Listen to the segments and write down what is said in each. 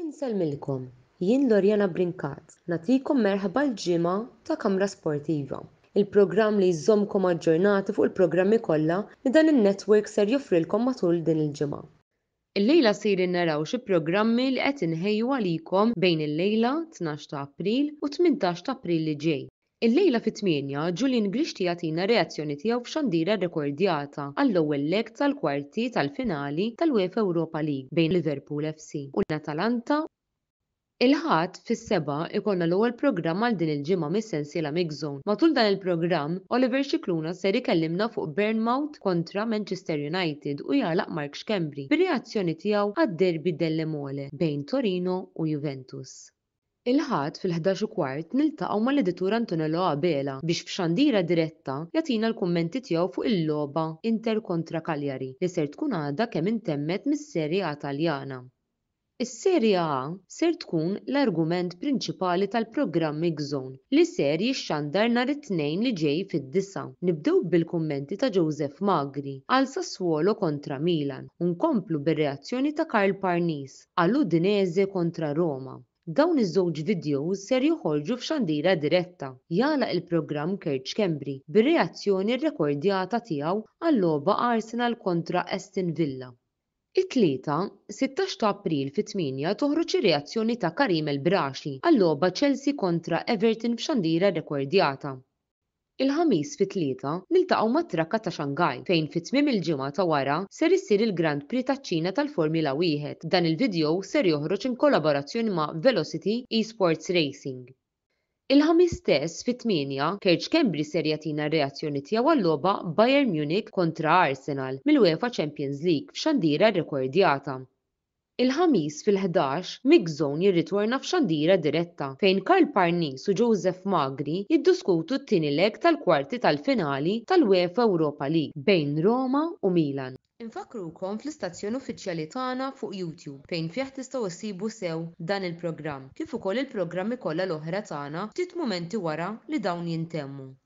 Insellmilkom, jien Loriana Brincat, nagħtikom merħba l-ġimgħa ta' Kamra Sportiva, il-programm li jżommkom aġġornati fuq il-programmi kollha li dan in-network ser joffrilkom matul din il-ġimgħa. Illejla sejrin naraw xi programmi li qed inħejju għalikom bejn illejla, tnax ta' April, u t-tmintax ta' April li ġej. Illejla fit-tmienja, Julian Grixti jagħtina r-reazzjoni tiegħu f'xandira rrekordjata għall-ewwel leg tal-kwarti tal-finali tal-UEFA Europa League bejn Liverpool FC u l-Atalanta. Il-Ħadd fis-sebgħa jkollna l-ewwel programm għal din il-ġimgħa mis-sensiela MixZone. Matul dan il-programm, Oliver Scicluna ser ikellimna fuq Bournmouth kontra Manchester United u jagħlaq Mark Schembri bir-reazzjoni tiegħu għad-derby delle Mole bejn Torino u Juventus. Il-Ħadd fil-ħdax u kwart niltaqgħu mal-Editur Antonello Abela biex f'xandira diretta jagħtina l-kummenti tiegħu fuq il-logħba Inter kontra Cagliari li ser tkun għadha kemm intemmet mis-Serie A Taljana. Is-Serie A ser tkun l-argument prinċipali tal-programm X-Zone li ser jixxandar nhar it-Tnejn li ġej fid-disgħa. Nibdew bil-kummenti ta' Joseph Magri għal Sassuolo kontra Milan u nkomplu bir-reazzjoni ta' Karl Parnis. għal Udinese kontra Roma. Dawn iż-żewġ vidjows ser joħorġu f'xandira diretta. Jagħlaq il-programm Kerċ Schembri bir-reazzjoni rrekordjata tiegħu għal-logħba Arsenal kontra Aston Villa. It-Tlieta, sittax ta' April fit-tmienja toħroġ ir-reazzjoni ta' Karim El Braschi għal-logħba Chelsea kontra Everton f'xandira rrekordjata. Il-Ħamis fit-Tlieta niltaqgħu mat-trakka ta' Shanghai fejn fi tmiem il-ġimgħa ta' wara ser issir il-Grand Prix taċ-Ċina tal-Formula Wieħed. Dan il-vidjow ser joħroġ in kollaborazzjoni ma' Velocity Esports Racing. Il-Ħamis stess fit-tmienja, Kerj Schembri ser jagħtina r-reazzjoni tiegħu għal-logħba Bayern Munich kontra Arsenal mill-UEFA Champions League f'xandira rrekordjata. Il-Ħamis fil-ħdax, Mix Zone jirritorna f'Xandira Diretta fejn Karl Parnis u Joseph Magri jidduskutu t-tieni leg tal-kwarti tal-finali tal-UEFA Europa League bejn Roma u Milan. Infakkrukom fl-istazzjon uffiċjali tagħna fuq YouTube fejn fih tistgħu ssibu sew dan il-programm kif ukoll il-programmi kollha l-oħra tagħna ftit mumenti wara li dawn jintemmu.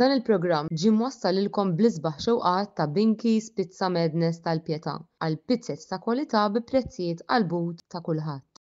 Dan il-programm ġie mwassal lilkom bl-isbaħ xewqat ta' Binky's Pizza Madness tal-Pietà għal pizzez ta' kwalità bi prezzijiet qalbut ta' kulħadd.